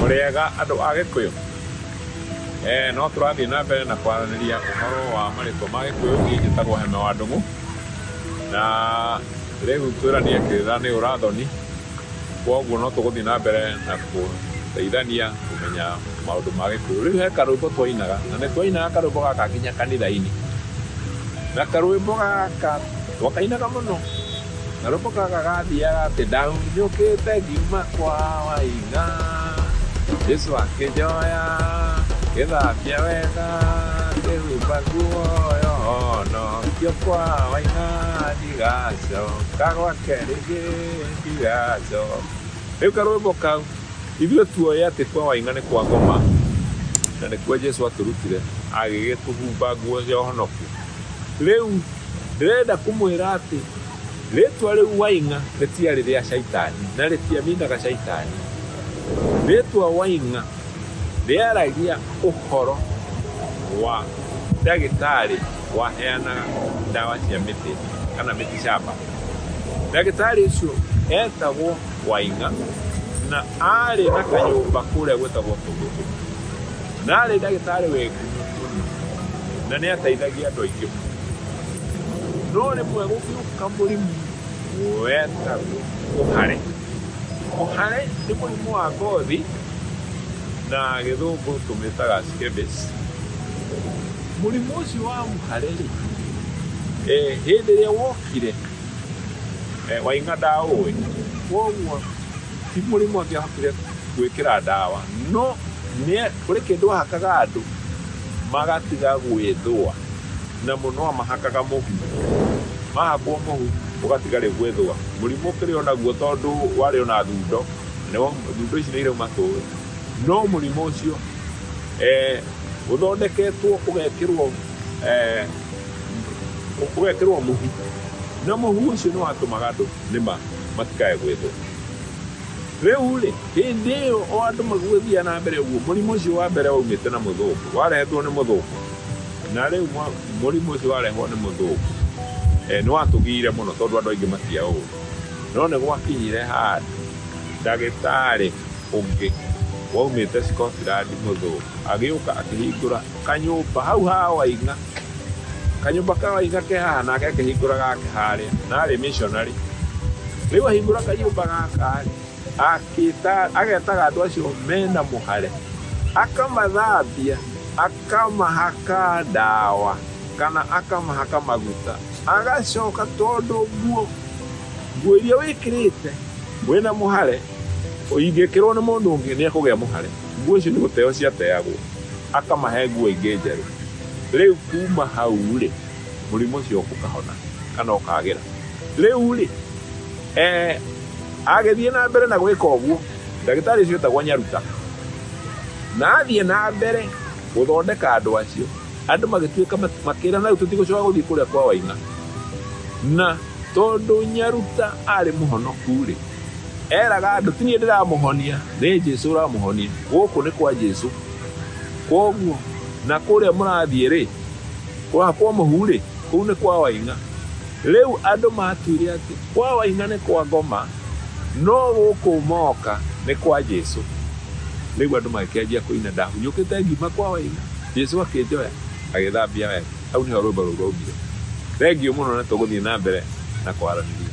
mũrĩega andũ a gĩkũyũ eh, no tũrathiĩ na mbere na kwaranĩria ũhoro wa marĩtwa ma gĩkũyũ niĩ njĩtagwo heme wa ndũng'ũ na rĩu twĩranie kĩrĩra nĩ ũrathoni kwoguo no tũgũthiĩ na mbere na kũteithania kũmenya Maũndũ ma gĩkũyũ. Rĩu he karwĩmbo twainaga na nĩ twainaga karwĩmbo gaka nginya kanitha-inĩ. Na karwĩmbo gaka twakainaga mũno. Na rwĩmbo gaka gathiaga atĩ ndahurũkĩte ngiuma kwa waina. Jesu akĩnjoya ngĩthambia wega ngĩhumba nguo yo honokio kwa waina ndigacoka gwake rĩngĩ ndigacoka. Rĩu karwĩmbo kau. Ithuĩ tuoĩ atĩ kwa waing'a nĩ kwa ngoma, na nĩkuo Jesu atũrutire agĩgĩtũhumba nguo cia ũhonoku. Rĩu ndĩrenda kũmwĩra atĩ rĩtwa rĩu waing'a rĩtiarĩ rĩa caitani na rĩtiaminaga caitani. Rĩtwa waing'a rĩaragia ũhoro wa ndagĩtarĩ waheanaga ndawa cia mĩtĩ kana mĩtĩ camba. Ndagĩtarĩ ũcio etagwo waing'a na arĩ na kanyũmba kũrĩa gwĩtagwo tũgũtũ na arĩ ndagĩtarĩ wĩ ngumo mũno na nĩ ateithagia andũ aingĩ mũno no rĩmwe gũgĩũka mũrimũ wetagwo kũhare kũhare nĩ mũrimũ wa ngothi na gĩthũngũ tũmĩtaga scabies mũrimũ ũcio wa mũhare rĩ eh, hĩndĩ ĩrĩa wokire Eh, wainga ndaũĩ kwoguo ti mũrimũ angĩahotire gwĩkĩra ndawa no nĩ kũrĩ kĩndũ ahakaga andũ magatiga gwĩthũa na mũno amahakaga mũhu mahakwo mũhu ũgatiga rĩu gwĩthũa mũrimũ ũkĩrĩ o naguo tondũ warĩ o na thundo nĩwo thundo ici nĩ irauma tũĩ no mũrimũ ũcio eh, ũthondeketwo ũgekĩrwo eh, ũgekĩrwo mũhu na mũhu ũcio nĩ watũmaga andũ nĩma matikae gwĩthũa rĩu rĩ hĩndĩ ĩyo o andũ magũgĩthiia na mbere ũguo mũrimũ ũcio wa mbere waumĩte na mũthũngũ warehetwo nĩ mũthũngũ na rĩu mũrimũ ũcio warehwo nĩ mũthũngũ eh, nĩ watũgiire mũno tondũ andũ aingĩ matia ũũ no nĩ gwakinyire handũ ndagĩtarĩ ũngĩ waumĩte Scotland mũthũngũ agĩũka akĩhingũra Kanyũmba, hau ha Waing'a. Kanyũmba ka Waing'a ke haha nake akĩhingũra gake harĩa, na arĩ missionary. Rĩu ahingũra kanyũmba gaka agetaga andũ acio mena mũhare, akamathambia, akamahaka ndawa kana akamahaka maguta, agacoka tondũ nguo nguo iria wĩkĩrĩte wĩna mũhare ingĩkĩrwo nĩ mũndũ ũngĩ nĩ ekũgĩa mũhare. Nguo icio nĩ gũteo ciateagwo, akamahe nguo ingĩ njerũ. Rĩu kuma hau-rĩ, mũrimũ ũcio ũkahona kana ũkagĩra. Rĩu-rĩ, agĩthiĩ na mbere na gwĩka ũguo, ndagĩtarĩ ũcio etagwo Nyaruta, na athiĩ na mbere gũthondeka andũ acio, andũ magĩtuĩka makĩra na rĩu tũtigũcoka gũthiĩ kũrĩa kwa Waina. Na tondũ Nyaruta arĩ mũhonoku-rĩ, Eraga andũ ti niĩ ndĩramũhonia, nĩ Jesu ũramũhonia. Gũkũ nĩ kwa Jesu. Kwoguo na kũrĩa mũrathiĩ rĩ, kwa mũhu rĩ, kũu nĩ kwa waing'a. Rĩu andũ matuire atĩ kwa waing'a nĩ kwa ngoma, no gũkũ moka nĩ kwa Jesu. Rĩu andũ magĩkĩanjia kũina, ndahunyũkĩte ngiuma kwa waing'a, Jesu akĩnjoya agĩthambia wega. Hau nĩho rwĩmbo rũu rwaumire. Thengiũ mũno na tũgũthiĩ na mbere na kwaranĩria.